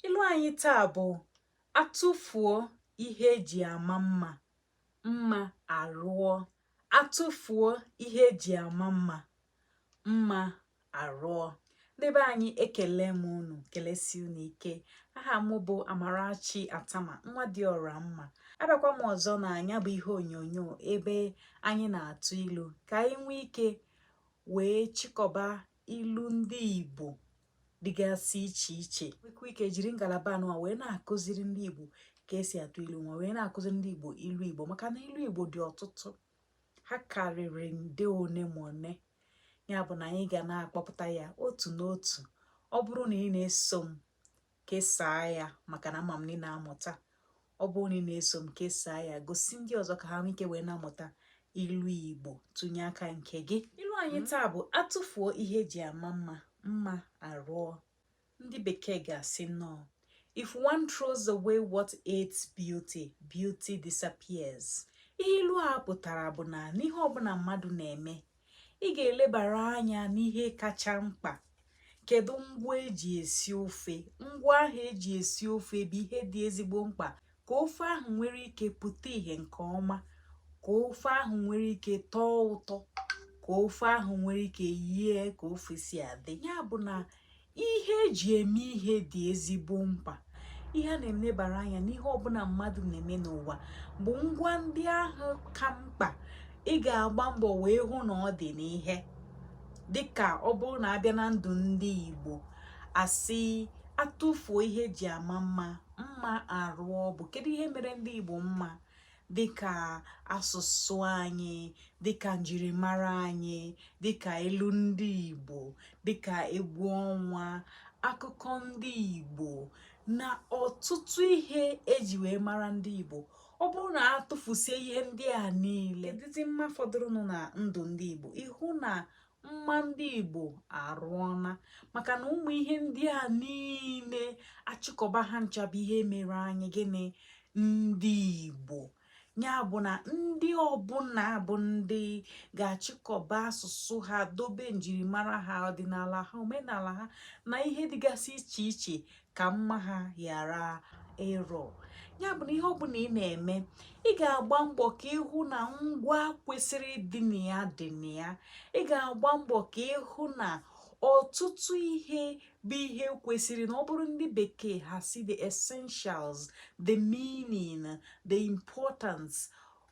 ilu anyị taa bụ atụfuo ihe eji ama mma mma arụọ atụfuo ihe eji ama mma mma arụọ ndị be anyị ekele m unu kelesi unu ike aha m bụ amarachi attamah nwa dị ọra mma abịakwa m ọzọ na nya bụ ihe onyonyo ebe anyị na-atụ ilu ka anyị nwee ike wee chịkọba ilu ndị igbo dịgasị iche iche nwekwa ike jiri ngalaba a nụwa wee na-akụziri ndị Igbo ka esi atụ ilu nwa wee na-akụziri ndị Igbo ilu Igbo maka na ilu Igbo dị ọtụtụ ha karịrị nde one ma one ya bụ na anyị ga na-akpọpụta ya otu n'otu ọ bụrụ na ị na-eso m kesaa ya maka na ama m na ị na-amụta ọ bụrụ na ị na-eso m kesaa ya gosi ndị ọzọ ka ha nwee ike wee na-amụta ilu igbo tụnye aka nke gị ilu anyị taa bụ atụfuo ihe eji ama mma mma arụọ ndị bekee ga-asị nnọọ if one throws away what aids beauty beauty disappears ihe ilu a pụtara bụ na n'ihe ọbụla mmadụ na-eme ị ga-elebara anya n'ihe kacha mkpa kedu ngwa eji esi ofe ngwa ahụ eji esi ofe bụ ihe dị ezigbo mkpa ka ofe ahụ nwere ike pụta ìhè nke ọma ka ofe ahụ nwere ike tọọ ụtọ ka ofe ahụ nwere ike yie ka ofe si adị ya bụ na ihe eji eme ihe dị ezigbo mkpa ihe a na-elebara anya n'ihe ọbụla mmadụ na-eme n'ụwa bụ ngwa ndị ahụ ka mkpa ị ga-agba mbọ wee hụ na ọ dị n'ihe dịka ọ bụrụ na abịa na ndụ ndị Igbo asị atụfuo ihe eji ama mma mma arụọ bụ kedu ihe mere ndị Igbo mma dịka asụsụ anyị dịka njirimara anyị dịka ilu ndị Igbo dịka egwu ọnwa akụkọ ndị Igbo na ọtụtụ ihe eji wee mara ndị Igbo ọ bụrụ na a tụfusie ihe ndị a niile kedụzi mma fọdụrụnụ na ndụ ndị Igbo ịhụ na mma ndị igbo arụọna maka na ụmụ ihe ndị a niile achịkọba ha ncha bụ ihe mere anyị gịnị ndị igbo ya bụ na ndị ọbụla bụ ndị ga-achịkọba asụsụ ha dobe njirimara ha ọdịnala ha omenala ha na ihe dịgasị iche iche ka mma ha ghara ịrụ ya bụ na ihe ọbụla ị na-eme ị ga-agba mbọ ka ịhụ na ngwa kwesịrị ịdị na ya dị na ya ị ga-agba mbọ ka ịhụ na ọtụtụ ihe bụ ihe kwesịrị na ọ bụrụ ndị bekee ha sị the essentials the meaning the importance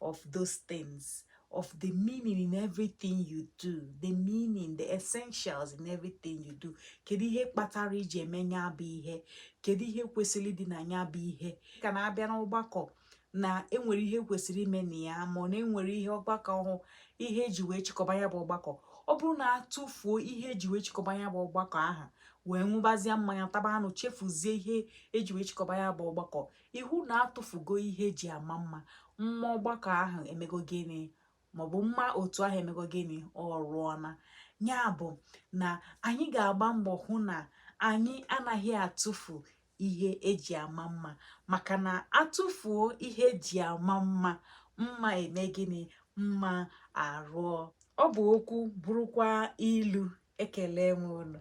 of those things of the meaning in everything you do the meaning the essentials in everything you do kedu ihe kpatara i ji eme ya bụ ihe kedu ihe kwesịrị dị na ya bụ ihe ka na-abịa n'ọgbakọ na enwere ihe kwesịrị ime na ya ma ọ na enwere ihe ọgbakọ ọhụ ihe eji wee chịkọba ya bụ ọgbakọ ọ bụrụ na atụfuo ihe eji wee chịkọba ya bụ ọgbakọ aha wee ṅụbazie mmanya taba anụ chefuzie ihe eji wee chịkọba ya bụ ọgbakọ ị hụ na atụfugo ihe eji ama mma mma ọgbakọ ahụ emego gịnị maọbụ mma otu ahụ emego gịnị ọ rụọna ya bụ na anyị ga-agba mbọ hụ na anyị anaghị atụfu ihe eji ama mma maka na atụfuo ihe eji ama mma mma eme gịnị mma arụọ ọ bụ okwu bụrụkwa ilu ekelee m unu